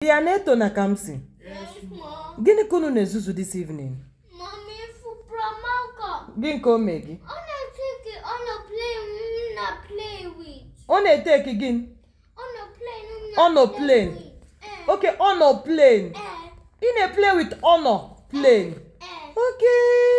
Bịa, Neto na Kamsi. Yes, ma. Gịnị ka unu na-ezuzu this evening? Mami, ifu Pramaka. Gịnị ka o mee gị? Ọ na-eteki aeroplane m na play with. Ọ na-eteki gịnị? Aeroplane m na play with. Eh, Okay, aeroplane. eh, Ị na-play with aeroplane. eh. Okay.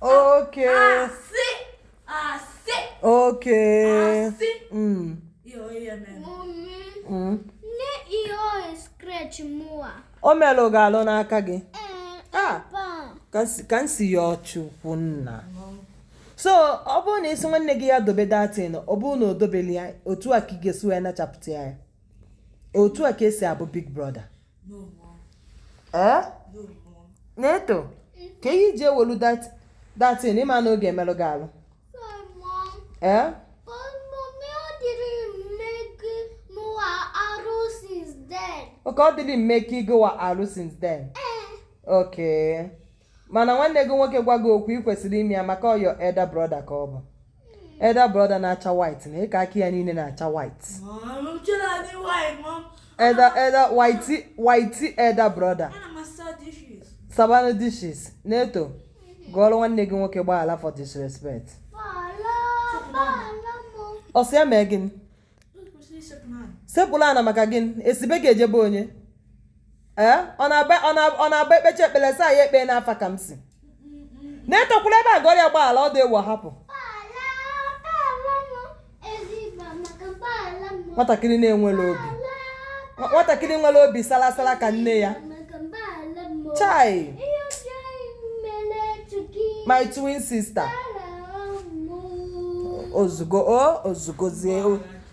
Oke. Asị. Asị. Oke. Asị. Mm. Ihe onye mere. Mm. Nee ihe o scratch mụwa. O merụrụ gị alụ n'aka gị. Ah. Kamsiyọchukwu nna. so ọ bụrụ na ị sị nwanne gị ya dobe that thing ọ bụrụ na o dobeli ya otu a ka ị ga-esi wee nachapụta ya otu a ka esi abụ big brother ee Neto kee ihe i ji ewelu that- that thing ị ma na ọ ga-emelụ gị alụ ee okay it didn't make gịwa alụ since then okay mana nwanne gị nwoke gwa gị okwu ị kwesịrị ime ya maka ọ your elder brother ka ọ bụ elder brother na-acha white n'aka aka ya niile na-acha white elder elder white white elder brother saba nụ dishes Neto gụọrọ nwanne gị nwoke gbaghara for disrespect ọ sị ya mee gịnị sekpulu ana maka gịnị e si be gị eje be onye ee ọ na-aba ọ na- ọ na-abụ e kpecha ekpele a sị ya e kpee n'afa Kamsi Neto kwụrụ ebe a gọrọ ya gbaghara ọ dị ewu hapụ nwatakịrị na-enwere obi Nwa- nwatakịrị nwere obi salasala ka nne ya chai my twin sister o zugo o o zugozie o